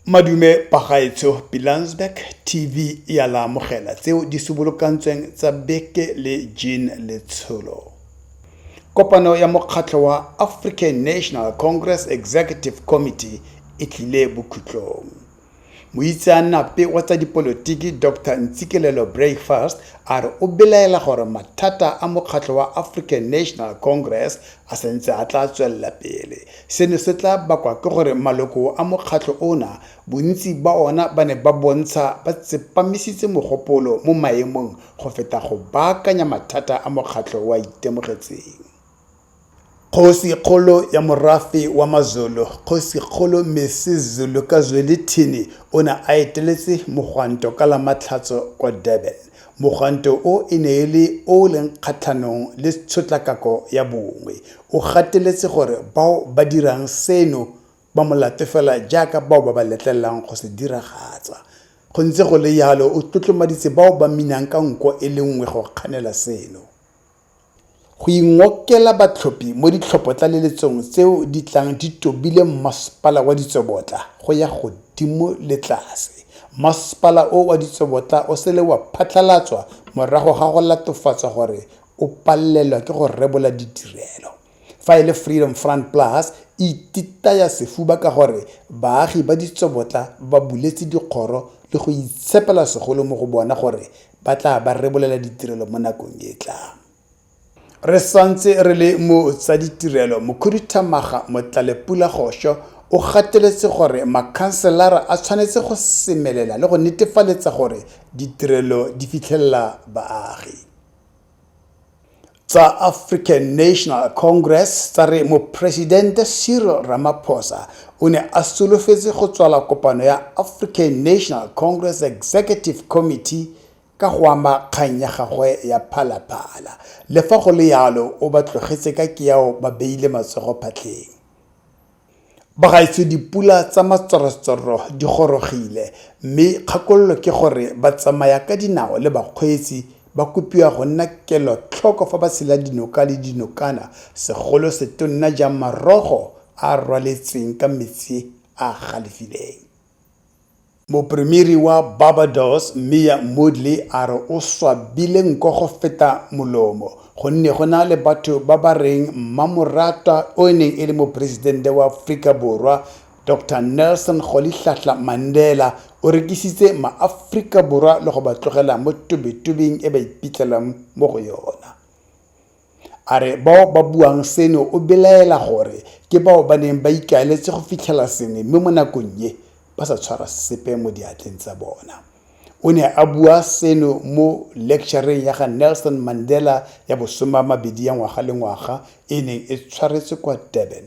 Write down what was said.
madume pagaetsho pilansberg tv ya la amogela tseo di subolokantsweng tsa beke le jean letsholo kopano ya mokgatlho wa african national congress executive committee e tlile bokhutlong Moitseanape wa tsa dipolotiki Doctor Ntsikelelo Breakfast a re o belaela gore mathata a mokgatlho wa African National Congress a sentse a tla tswelela pele. Seno se tla bakwa ke gore maloko a mokgatlho ona bontsi ba ona ba ne ba bontsha ba tsepamisitse mogopolo mo maemong go feta go baakanya mathata a mokgatlho wa itemogetseng. Kgosi-kgolo ya morafe wa Mazulu, Kgosi-kgolo Mrs Zulu ka Zwelithini o ne a eteletse mogwanto ka la Matlhatso kwa Durban. Mogwanto o e ne e le o o leng kgatlhanong le tshotlakako ya bongwe. O gateletse gore bao ba dirang seno ba molato fela jaaka bao ba ba letlelelang go se diragatsa. Go ntse go le jalo o tlotlomaditse bao ba minang ka nko e le nngwe go kganela seno. go ingokela batlhophi mo ditlhophotlaleletsong tseo di tlang di tobile mmasepala wa ditsobotla go ya godimo le tlase. Mmasepala o wa ditsobotla o sele wa phatlhalatswa morago ga go latofatswa gore o palelwa ke go rebola ditirelo. Fa e le Freedom Front Plus, e ititaya sefuba ka gore baagi ba ditsobotla ba buletse dikgoro le go itshepela segolo mo go bona gore ba tla ba rebolela ditirelo mo nakong e tlang. Re santse re le mo tsa ditirelo, Mokhuduthamaga Motlalepula Gosho o gateletse gore makhanselara a tshwanetse go semelela le go netefaletsa gore ditirelo di fitlhelela baagi. tsa African National Congress tsa re Mopresidente Cyril Ramaphosa o ne a solofetse go tswala kopano ya African National Congress Executive Committee ka go ama kgang ya gagwe ya phalaphala. Le fa go le yalo o ba tlogetse ka keao ba beile matsogo phatlheng. Bagaetsho dipula tsa matsorotsoro di gorogile mme kgakololo ke gore batsamaya ka dinao le bakgweetsi ba kopiwa go nna kelotlhoko fa ba tshela dinoka le dinokana segolo setonna jang marogo a a rwaletsweng ka metsi a a galefileng. Mopremiri wa Barbados Mia Mottley a re o swabile nko go feta molomo gonne go na le batho ba ba reng mmamoratwa o e neng e le moporesidente wa Aforika Borwa Doctor Nelson Rolihlahla Mandela o rekisitse maAforika Borwa le go ba tlogela mo tobetobeng e ba iphitlhelang mo go yona. A re bao ba buang seno o belaela gore ke bao ba neng ba ikaeletse go fitlhela sengwe mme mo nakong e ba sa tshwara sepe mo diatleng tsa bona. O ne a bua seno mo lectureng ya ga Nelson Mandela ya bosoma mabedi ya ngwaga le ngwaga e neng e tshwaretswe kwa Durban.